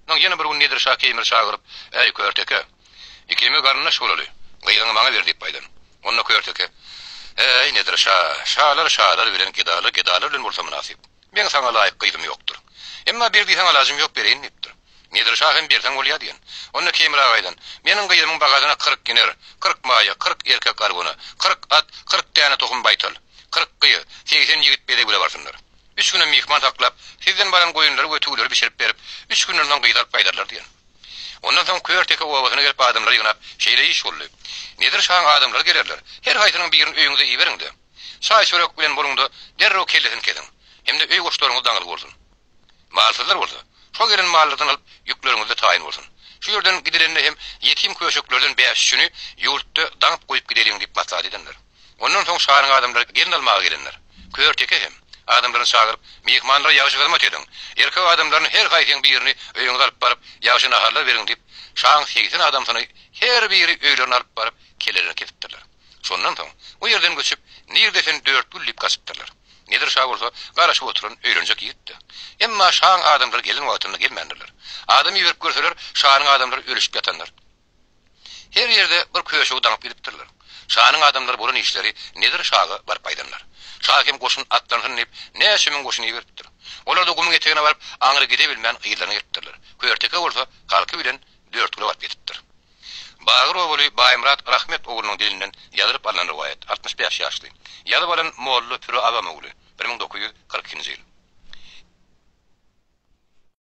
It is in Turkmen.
Soň ýene bir gün Nedir şa Keýmiri çagyryp, Äý, Körteke! Ikimiz garyndaş bolaly. Gyzyňy maňa ber diýip aýdan. Onda Körteke, Äý, Nedir şa, şalar şalar bilen, gedalar gedalar bilen bolsa mynasyp. Meň saňa laýyk gyzym ýokdur. Emma ber diýseň alajym ýok, bereýin diýipdir. Nedir şa hem berseň bolýa diýen. Onda Keýmir aga aýdan, Meniň gyzymyň bagadyna kyrk giner, kyrk maýa, kyrk erkek arguna, kyrk at, kyrk däne tohum baýtal, kyrk gyz, segsen ýigit bezeg bile barsynlar. Üç güne myhman saklap, sizden baran goýunlary we tüwüleri bişirip berip, üç günden soň gyzy alyp gaýdarlar diýen. Ondan soň Körteke obasyna gelip adamlary ýygnap, şeýle iş boldy. Nedir şaň adamlary gelerler, her haýsynyň birini öýüňize iberiň-de, çaý-çörek bilen boluň-da, derrew kellesini kesiň. Hem-de öý goşlaryňyz daňyzly bolsun. Malsyzlar bolsa, şo gelen mallardan alyp, ýükleriňizde taýyn bolsun. Şu ýerden gidilende hem ýetim-köşeklerden bäş-üçüni ýurtda daňyp goýup gideliň diýip maslahat edenler. Ondan soň şanyň adamlary gelin almaga gelenler. Körteke hem, adamlaryny çagyryp, myhmanlara ýagşy hyzmat ediň. Erkek adamlaryny her haýsyň birini öýüňize alyp baryp, ýagşy naharlar beriň diýip, şaň segsen adamsyny her biri öýlerine alyp baryp, kellelerini kesipdirler. Şondan soň, o ýerden göçüp, nirde sen dört gül diýip gaçypdyrlar. Nedir şa bolsa, garaşyp oturan öýlenjek ýigitdi. Emma şaň adamlary gelin wagtynda gelmändirler. Adam iberip görseler, şanyň adamlary ölüşip ýatandyr. Her ýerde bir köşegi daňyp gidipdirler. Şanyň adamlary bolan işleri Nedir şaga baryp aýdanlar. Şa hem goşun atlansyn diýip, näçe müň goşun iberipdir. Olar-da gumuň etegine baryp, aňry gidebilmän yzlaryna gelipdirler. Körteke bolsa halky bilen Dörtgüle baryp ýetipdir. Bagyr obaly Baýmyrat Rahmet oglunyň dilinden ýazylyp alnan rowaýat, altmyş bäş ýaşly. Ýazyp alan Molla Püri Abam ogly, bir müň dokuz ýüz kyrk ikinji ýyl.